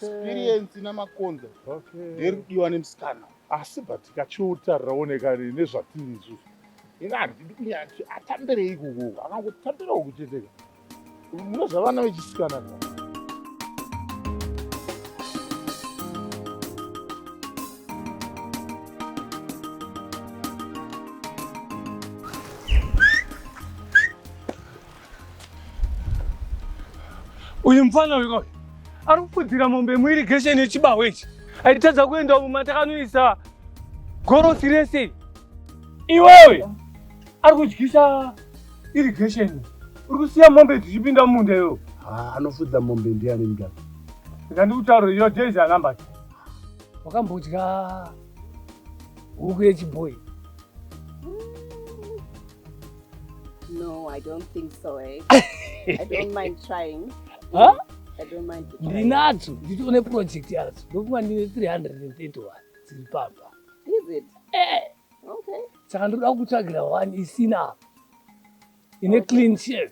experience namakonza nderi kudiwa nemusikana asi but kachiuta rinooneka nezvatiri izvo ini handidi kunyati atambirei ikuku kana kuti tambirawo kucheteka mune zvavana vechisikana Uyu mfana uyu kauyu ari kufudzira mombe muirigesheni yechibaho ichi aitadza kuenda umu matakanoisa gorosi rese iwewe ari kudyisa irigesheni uri kusiya mombe dzichipinda mumunda iwewe Ah, anofudza mombe ndiani mdaka ndikandikutaurira your days are numbered wakambodya huku yechibhoyi No, I don't think so, eh? I don't mind trying. Huh? I don't mind trying. Ndinadzo, nditoone project yadzo. Ndofunga ndine 331 dziri papa. Is it? Eh. Okay. Saka ndoda kutsvagira one isina apa. Ine okay. clean shave.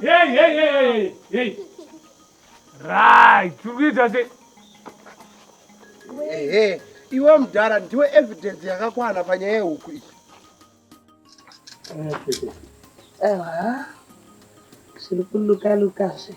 Hey, hey, hey, hey, hey. Right, tikuita se. Hey, hey. Iwe mdara ndiwe evidence yakakwana panyaya yehuku iyi. Ewa. Zviri kuluka luka zve.